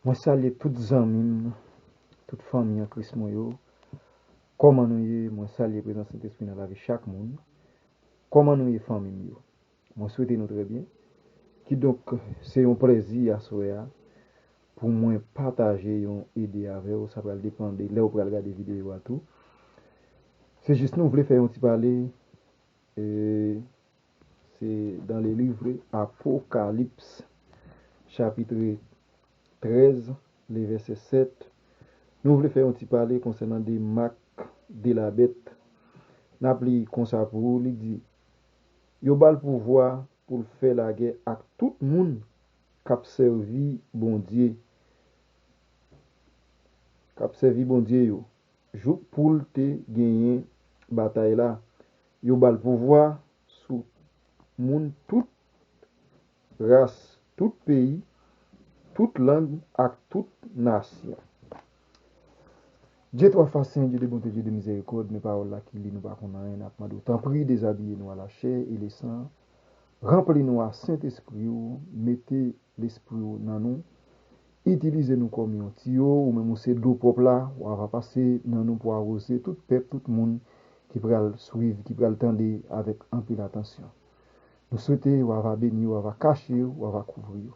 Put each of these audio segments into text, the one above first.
Mwen salye tout zanmim, tout fanmi an kris mwen yo, kòman nou ye, mwen salye prezans sentespri nan lavi chak moun, kòman nou ye fanmim yo, mwen swete nou trè byen, kidonk se yon plèzi aswè a pou mwen pataje yon ide avèw, sa pral depan de lèw pral gade videyo a tou, se jis nou vle fè yon ti pale. Se dans le livre Apocalypse chapitre 13 le verset 7 nou vle fè yon ti pale konsènan de mak de la bèt. N ap li konsa pou ou, li di, Yo ba l pouvwa pou l fè lagè ak tout moun k ap sèvi Bondye, k ap sèvi Bondye yo, jouk pou l te genyen batay la, Yo bal pouvwa sou moun tout ras, tout peyi, tout lang ak tout nasyon. Dye twa fas sen, Dye de bonte, Dye de mizerikòd, men pawòl la ki li nou pa konn anyen, nap mande w tanpri dezabiye nou a la chè e le san, ranpli nou a Sentespri w, mete lespri w nan nou, Itilize nou kòm yon tiyo, ou menm ou se dlo pwòp la, wa va pase nan nou pou awoze tout pèp, tout moun ki pral swiv, ki pral tande avèk anpil atansyon. Nou swete wa va beni yo, wa va kache yo, wa va kouvri yo.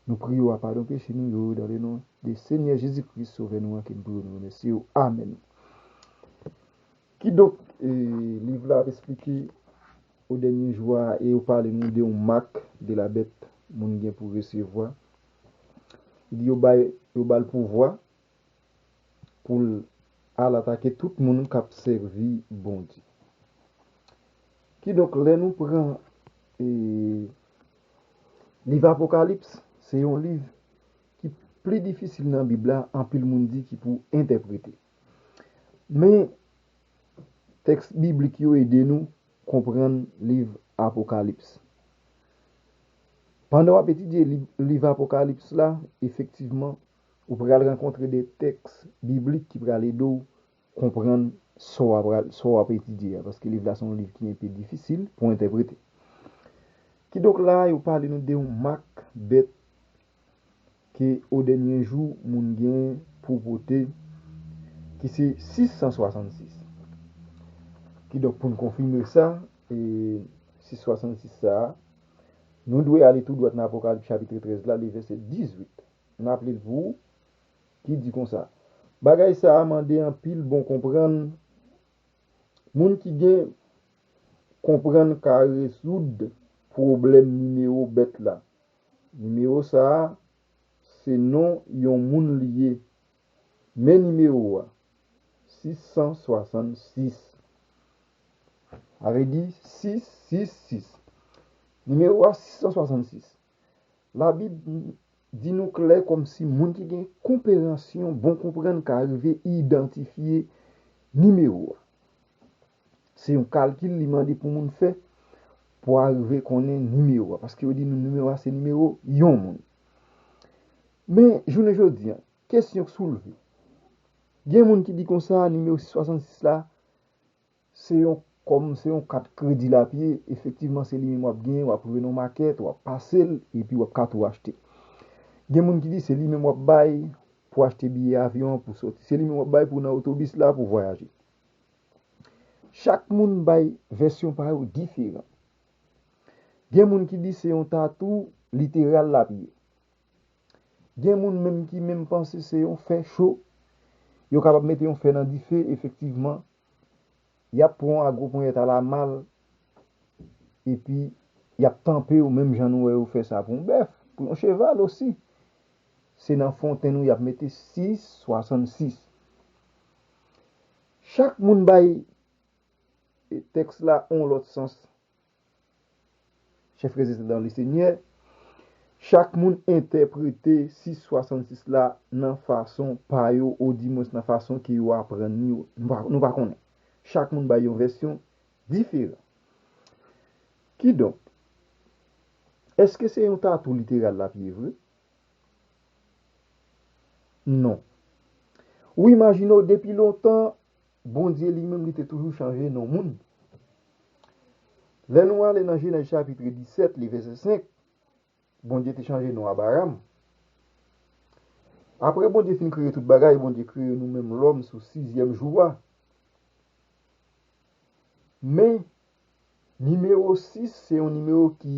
Nou priye wa padon peche nou yo dan le non de Senyè Jezi Kris, Sovè nou an ke n priye nou remèsye yo. Amèn. Kidonk, liv la ap esplike o dènye jou a e yo pale nou de yon mak de la bèt moun gen pou resevwa Li yo bay yo bal pouvwa poul Al atake tout moun kap sèvi Bondye kidonk lè nou pran e liv apokalips se yon liv ki pli difisil nan bib la anpil moun di ki pou entèprete men tèks biblik yo ede nou Konprann liv Apokalips Pandan w ap etidye liv Apokalips la, efektivman, ou pral rankontre de tèks biblik ki pral ede w konprann sa w ap etidye a, paske liv la se yon liv ki enpe difisil pou entèprete. Kidonk, la a yo pale nou de yon mak bèt ke odenye jou moun gen pou vote ki se 666. Kidonk pou n konfime sa, 666 sa a, nou dwe ale tou dwat nan Apokalip chapitre 13 la, li vèsè 18. M raple l pou ou, ki di konsa, Bagay sa a mande anpil bon konprann, moun ki gen konprann ka rezoud pwoblèm nimewo bèt la. Nimewo sa a se non yon moun li ye. Men nimewo a, 666. Sa vle di 666. Nimewo a 666. Labib di nou klè kòmsi moun ki gen konperansyon bon konprann ka rive idantifye nimewo a. Se yon kalkil li mande pou moun fè pou arive konnen nimewo a. Paske yo di nou nimewo a se nimewo yon moun. Men, jounen jodi an, kesyon k soulve. Gen moun ki di konsa, nimewo 666 la, se yon kòm, se yon kat kredi l ap ye. Efektivman, se li menm w ap genyen, w ap rive nan yon makèt, w ap pase l, epi w ap ka tou achte. Gen moun ki di se li menm w ap bay pou achte biyè avyon an pou soti. Se li menm w ap bay pou w nan otobis la pou vwayaje. Chak moun bay vèsyon pa yo diferan. Gen moun ki di se yon tatou literal l ap ye. Gen moun menm ki menm panse se yon fè cho, yo kapab mete yon fè nan dife efektivman, y ap pran w a gwo ponyèt alamal epi y ap tanpe w menm jan nou wè yo fè sa pou yon bèf, pou yon cheval osi. Se nan fontenn ou y ap mete 666. Chak moun bay tèks la yon lòt sans. Chèf rezidan Lesenyè, Chak moun entèprete sis 66 la nan fason pa yo oudimwens nan fason ke yo aprann li yo. Nou pa konnen. Chak moun bay yon vèsyon diferan. Kidonk, èske se yon tatou literal l ap ye vre? non. Wi Majino depi lontan Bondye li menm li te toujou chanje non moun. Lè nou ale nan Jenèz chapitre 17 li vèsè 5 Bondye te chanje non Abaram. Apre Bondye fin kreye tout bagay Bondye kreye nou menm lòm sou sizyèm jou a. Men nimewo 6 se yon nimewo ki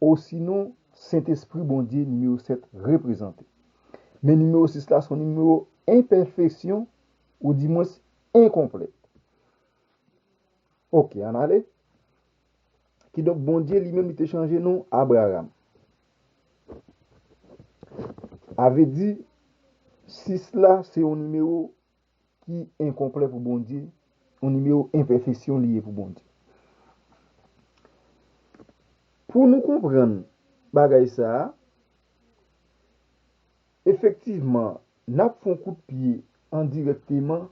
Osinon, Sentespri Bondye nimewo 7 reprezante. Men nimewo 6 la se yon nimewo enpèfeksyon oudimwens enkonplè. Ok, ann ale. Kidonk, Bondye li menm li te chanje non Abraram. Avedi, 6 la se yon nimewo ki enkonplè pou Bondye, yon nimewo enpèfesyon li ye pou Bondye. Pou nou konprann bagay sa a, efektivman, n ap fè yon kout pye endirèkteman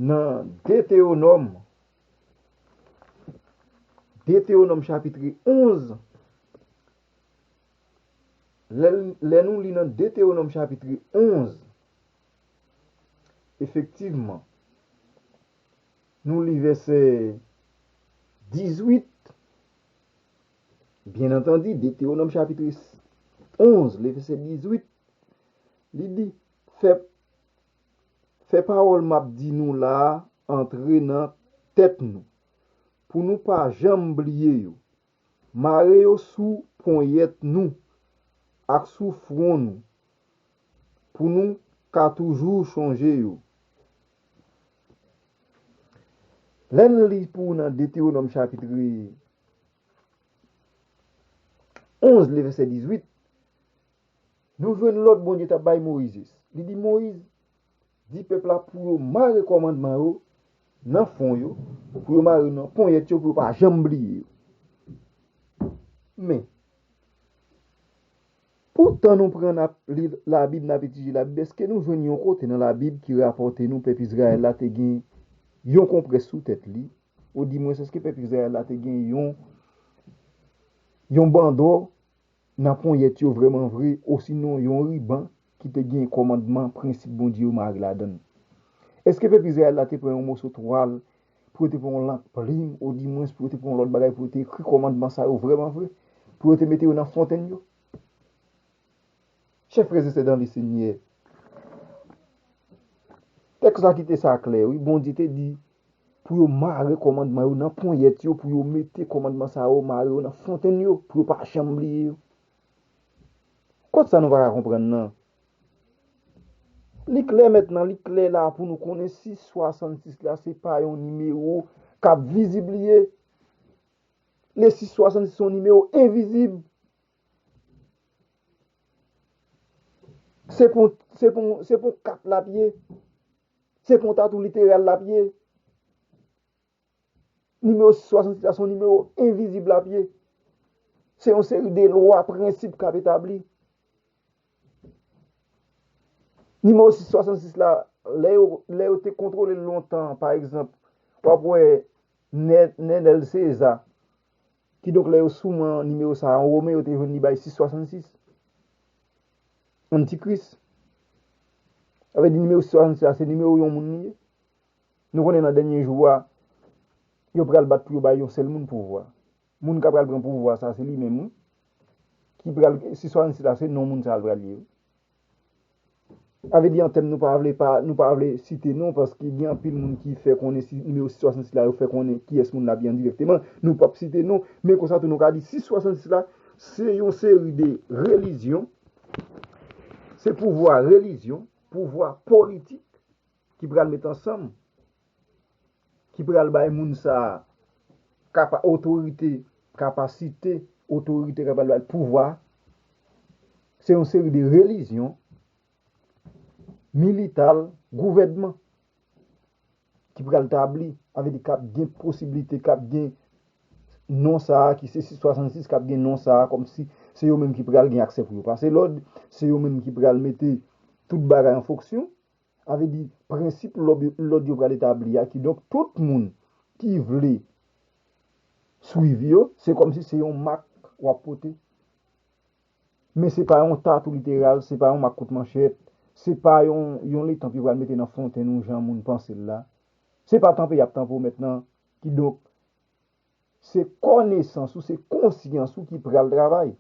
nan Detewonòm, Detewonòm chapitre 11, Lè nou li nan Detewonòm chapitri 11, efektivman, nou li vèsè 18, byen antandi, Detewonòm chapitri 11, li vèsè 18, li di, Fè pawòl m ap di nou la a antre nan tèt nou, pou nou pa janm bliye yo, Mare yo sou ponyèt nou ak sou fwon nou pou nou ka toujou chonje yo. Lè n li pou ou nan Detewonòm chapitre 11 le vèsè 18, nou jwenn lòd Bondye ta bay Moizes. Li di Moyiz, Di pèp la pou yo mare kòmandman yo nan fwon yo, pou yo mare yo nan ponyèt yo pou yo pa janm bliye yo. Men, pou tan nou pran n ap li Labib, n ap etidye Labib, èske nou jwenn yon kote nan Labib ki rapòte nou pèp Izrayèl la te gen yon konprès sou tèt li? Odimwens, èske pèp Izrayèl la te gen yon bandò? nan ponyèt yo vrèman vre osinon yon riban ki te gen kòmandman, prensip Bondye yo mare ladan l. Èske pèp Izrayèl la te pran yon moso twal pou yo te pran yon lank plim odimwens pou yo te pran yon lòt bagay pou yo te ekri kòmandman sa yo vrèman vre pou yo te mete yo nan fontenn yo? Chè frè e sè dan Lesenyè, tèks la kite sa klè wi, Bondye te di pou yo mare kòmandman yo nan ponyèt yo, pou yo mete kòmandman sa yo, mare yo nan fontenn yo, pou yo pa janm bliye yo. Kot sa nou pa ka konprann nan? Li klè mètnan, li klè la pou nou konnen si 66 la se pa yon nimewo k ap vizibliye. Le 666 se yon nimewo envizib. Se pou 4 l ap ye. Se konta tou literal l ap ye. Nimewo 66 la se yon nimewo envizib l ap ye. Se yon seri de lwa, prensip k ap etabli. Nimewo 66 la, lè yo te kontwole l lontan, pa egzanp, w ap wè Nenel Seza. Kidonk lè yo souman nimewo sa a an women, yo te jwenn li bay 666. Antikris. Sa vle di nimewo 666 la se nimewo yon moun li ye. Nou konnen nan dènye jou a, yo pral bat pou yo bay yon sèl moun pouvwa. Moun k apral pran pouvwa sa a se li menm wi. Ki pral, 666 la se non moun sa a l pral ye wi. Sa vle di antèm nou pa vle pa, nou pa vle site non paske gen anpil moun ki fè konnen si nimewo 666 la yo fè konnen kiyès moun nan ap di endirèkteman. Nou pap site non, men konsa tou nou ka di 666 la se yon seri de relijyon, se pouvwa relijyon, pouvwa politik ki pral met ansanm, ki pral bay moun sa a kapa, otorite, kapasite, otorite kapa l bay pouvwa. Se yon seri de relijyon, milital, gouvènman ki pral tabli, sa vle di k ap gen posiblite, k ap gen non sa a ki se 666, k ap gen non sa a kòmsi se yo menm ki pral gen aksè pou yo pase lòd, se yo menm ki pral mete tout bagay an fonksyon. Sa vle di, prensip lòd yo pral etabli a, kidonk tout moun ki vle swiv yo, se kòmsi se yon mak w ap pote. Men se pa yon tatou literal, se pa yon mak kout manchèt, se pa yon letanp yo pral mete nan fontenn ou jan moun panse l la. Se pa tanpe y ap tanpe w mèt nan, kidonk. Se kònesans ou, se konsyans ou ki pral travay.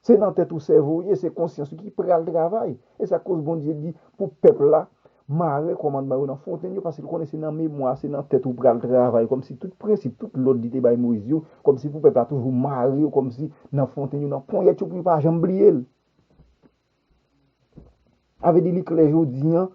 Se nan tèt ou sèvo ou ye, se konsyans ou ki pral travay. E sa k koz Bondye di pou pèp la mare kòmandman yo nan fontenn yo paske l konnen se nan memwa, se nan tèt ou pral travay kòmsi tout prensip, tout lòd li te bay Moyiz yo, kòmsi pou pèp la toujou mare yo kòmsi nan fontenn yo, nan ponyèt yo pou yo pa janm bliye l. A vle di li klè jodi an,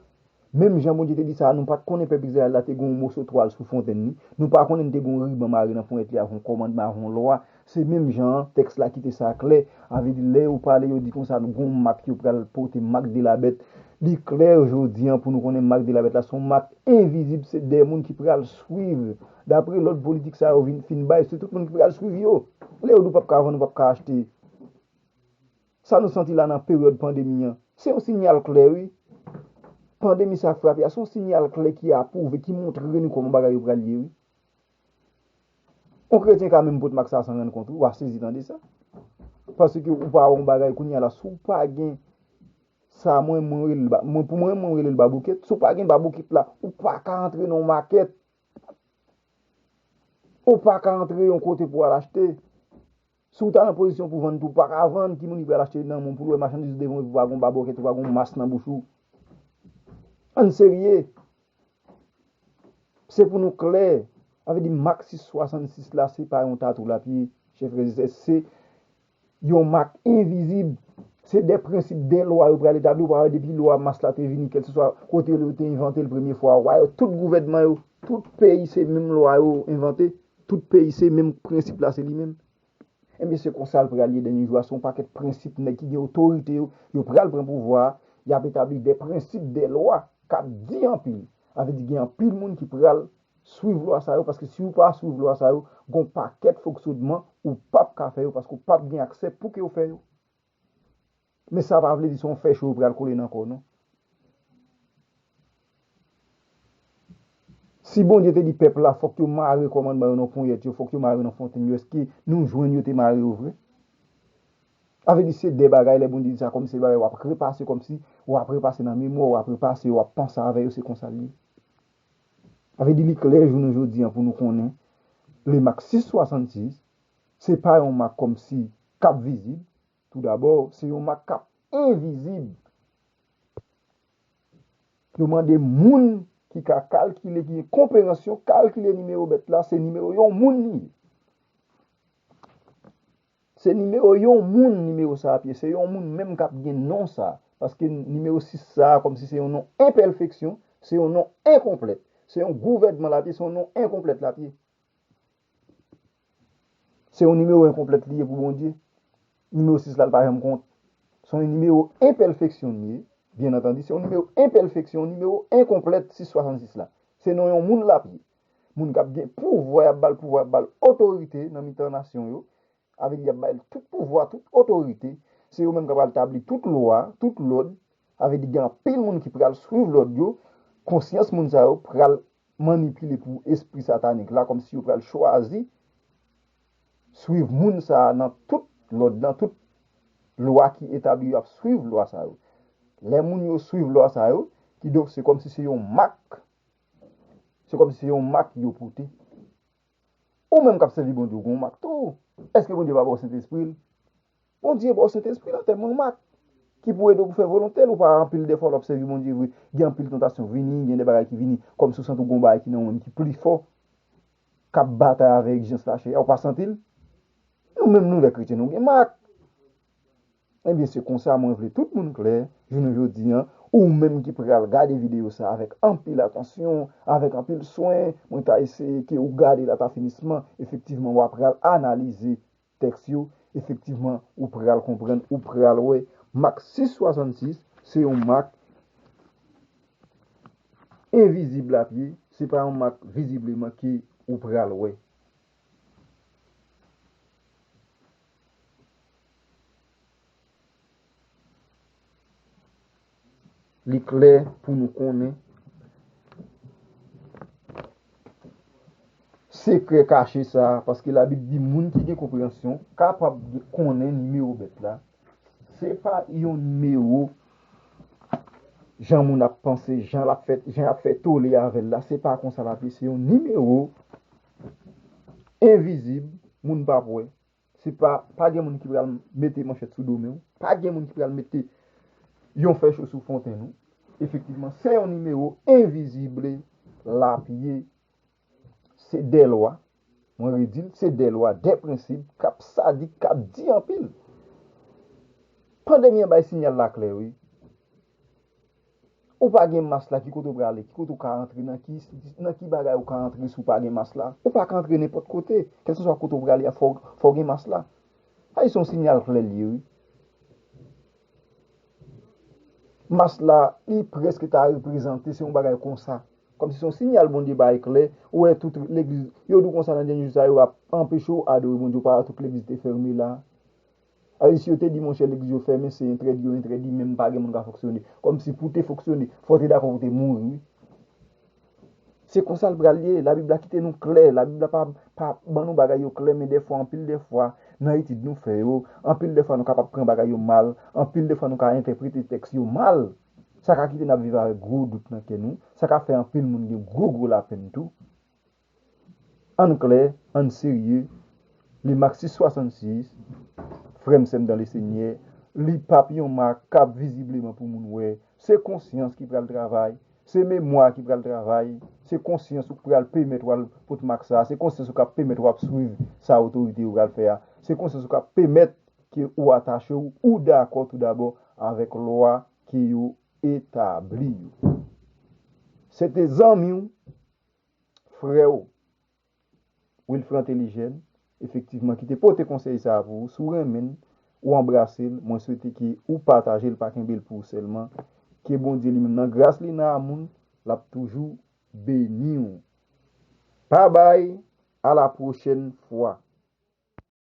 menm jan Bondye te di sa a, nou pa t konnen pèp Izrayèl la te gen yon moso twal sou fontèn li, nou pa konnen li te gen yon riban mare nan ponyèt li avèk yon kòmandman, avèk yon lwa. Se menm jan an, tèks la kite sa klè, a vle di lè yo pale, yo di konsa, gen yon mak yo pral pote, mak de la bèt. Li klè jodi an pou nou konnen mak de la bèt la se yon mak envizib, se de moun ki pral swiv, dapre lòd politik sa yo fin bay, se tout moun ki pral swiv yo. Lè yo di w pap ka vann, ou pap ka achte. Sa nou santi la nan peryòd pandemi an, se yon sinyal klè wi. Pandemi sa k frape a, se yon sinyal klè ki apwouve, ki montre nou kòman bagay yo pral ye wi. Yon kretyen ka menm pot mak sa san rann kont wi, w a sezi tande sa. Paske ou pa wè yon bagay kounye a la, si w pa gen sa mwen, mwen rele l ba, mwen pou mwen, mwen rele l baboukèt, si w pa gen baboukèt la, ou pa ka antre nan yon makèt. Ou pa ka antre yon kote pou w al achte. Si w ta nan pozisyon pou vann tou, pa ka vann, ki moun ki pral achte nan moun pou l wè machandiz ou devan epi pa gen yon babòkèt ou pa gen yon mas nan bouch ou? Ann serye! Se pou nou klè, sa vle di mak 666 la se pa yon tatou l ap ye, chè frè e sè, se yon mak envizib, se de prensip, de lwa yo pral etabli, ou pa wè depi lwa mas la te vini kèlkeswa kote yo te envante l premye fwa, wa yo, tout gouvènman yo, tout peyi se menm lwa yo envante. Tout peyi se menm prensip la se li menm. Ebyen se konsal pral ye dènye jou a se yon pakèt prensip nèg ki gen otorite yo yo pral pran pouvwa a yap etabli dè prensip dè lwa kap di anpil sa vle di gen anpil moun ki pral swiv lwa sa yo paske siw pa swiv lwa sa yo gon pakèt foksodman ou pap ka fè yo paske ou pap gen aksè pouke ou fè yo. Men sa pa vle di se yon fè cho yo pral kole nan kò w non. Si Bondye te di pèp la fòk yo mare kòmandman yo nan ponyèt yo, fòk yo mare nan fontenn yo, èske nou jwenn yo te mare yo vre? Sa vle di se de bagay lè Bondye di sa kòm se de bagay w ap repase kòm si w ap repase nan memwa w, w ap repase yo, w ap panse avè yo se konsa l ye. Sa vle di li klè jounen jodi an pou nou konnen le mak 666 se pa yon mak kòm si k ap vizib Toudabò, se yon mak k ap envizib. Yo mande moun ki ka kalkile, ki gen konperansyon kalkile nimewo bèt la, se nimewo yon moun li ye. Se nimewo yon moun nimewo sa ap ye, se yon moun menm k ap gen non sa a. Paske nimewo 6 sa a, kòmsi se yon non enpèfeksyon, se yon non enkonplèt. Se yon gouvènman l ap ye, se yon non enkonplèt l ap ye. Se yon nimewo enkonplèt li ye pou Bondye. Nimewo 6 la, li pa janm kont. Se yon nimewo enpèfeksyon li ye. Byen antandi, se yon nimewo enpèfeksyon, yon nimewo enkonplèt 6, 66 la. Se non yon moun l ap ye. Moun k ap gen pouvwa, y ap ba l pouvwa, y ap ba l otorite nan mitan nasyon yo. Avèk li y ap bay l tout pouvwa, tout otorite, se yo menm k ap pral tabli tout lwa, tout lòd, avèk li gen anpil moun ki pral swiv lòd yo, konsyans moun sa yo pral manipile pou espri satanik la kòmsi yo pral chwazi swiv moun sa a nan tout lòd, nan tout lwa ki etabli yo ap swiv lwa sa yo. Lè moun yo swiv lwa sa yo, kidonk se kòmsi se yon mak, se kòmsi se yon mak yo pote Ou menm k ap sèvi Bondye ou gen yon mak tou. Èske Bondye pa ba w Sentespri l? Bondye ba w Sentespri l an tèm yon mak ki pou ede w pou fè volonte l. Ou pa wè anpil dèfwa lè w ap sèvi Bondye vre, gen anpil tantasyon vini, gen de bagay ki vini kòmsi w santi w gen yon bagay ki nan ou menm ki pi fò, k ap batay avèk egzijans lachè a. Ou pa santi l? Nou menm nou lè kretyen nou gen mak. Ebyen se konsa mwen vle tout moun klè jounen jodi an, ou menm ki pral gade videyo sa avèk anpil atansyon, avèk anpil swen, mwen ta eseye ke ou gade l ata finisman, efektivman wa pral analize tèks yo, efektivman ou pral konprann, ou pral wè mak 666 se yon mak envizib lap ye, se pa yon mak vizibleman ke ou pral wè. Li klè pou nou konnen, sekrè kache sa, paske la Bib di moun ki gen konpreyansyon kapab konnen nimewo bèt la, se pa yon nimewo jan moun ap panse, jan ap fè tole avèl la, se pa konsa la, se yon nimewo. envizib, moun p ap wè. Se pa, pa gen moun ki pral mete manchèt sou do men w. Pa gen moun ki pral mete yon fè cho sou fontenn ou. Efektivman, se yon nimewo envizible l ap ye. Se de lwa, mwen redi l, se de lwa, de prensib k ap sadik, k ap di anpil. Pandemi an bay sinyal la klè wi. Ou pa gen mas la ki kote ou prale, ki kote ou ka antre, nan ki enstitisyon, nan ki bagay ou ka antre si ou pa gen mas la. Ou pa ka antre nenpòt kote, kèlkeswa kote ou prale a fò ou gen mas la. Sa se yon sinyal klè l ye wi. Mas la li prèske ta reprezante se yon bagay konsa, kòmsi se yon sinyal Bondye bay klè, ou wè tout legliz, yo di w konsa nan dènye jou sa yo ap anpeche w adore Bondye, ou pa wè tout legliz te fèmen la. Ay si yo te di monchè legliz yo fèmen se entrèdi yo entrèdi menm pa gen moun ka fonksyone kòmsi pou te fonksyone fò te dakò pou te mouri wi se konsa l pral ye labib la kite nou klè labib la pa pa ban nou bagay yo klè men dèfwa anpil dèfwa nan etid nou fè yo anpil dèfwa nou kapab pran bagay yo mal anpil dèfwa nou ka entèprete tèks yo mal sa ka kite n ap viv avèk gwo dout nan kè nou sa ka fè anpil moun gen gwo gwo lapenn tou. Ann klè, ann serye, le Marxiste 66, frè m sè m dan le Senyè, li pa p yon makab vizibleman pou moun wè, se konsyans ki pral travay, se memwa ki pral travay, se konsyans ou k pral pemèt w al pot mak sa a, se konsyans ou k ap pemèt w ap swiv sa otorite yo pral fè a, se konsyans ou k ap pemèt ke ou atache w, ou dakò tou dabò avèk lwa ke yo etabli yo. Se te zanmi w. Freo Wilfran Telijèn efektivman ki te pote konsèy sa pou ou, si w renmen l, ou anbrase l, mwen swete ke ou pataje l pa kenbe l pou ou sèlman, ke Bondye li menm nan gras li nan amoul lap toujou beni w. Pabay a la pwochèn fwa.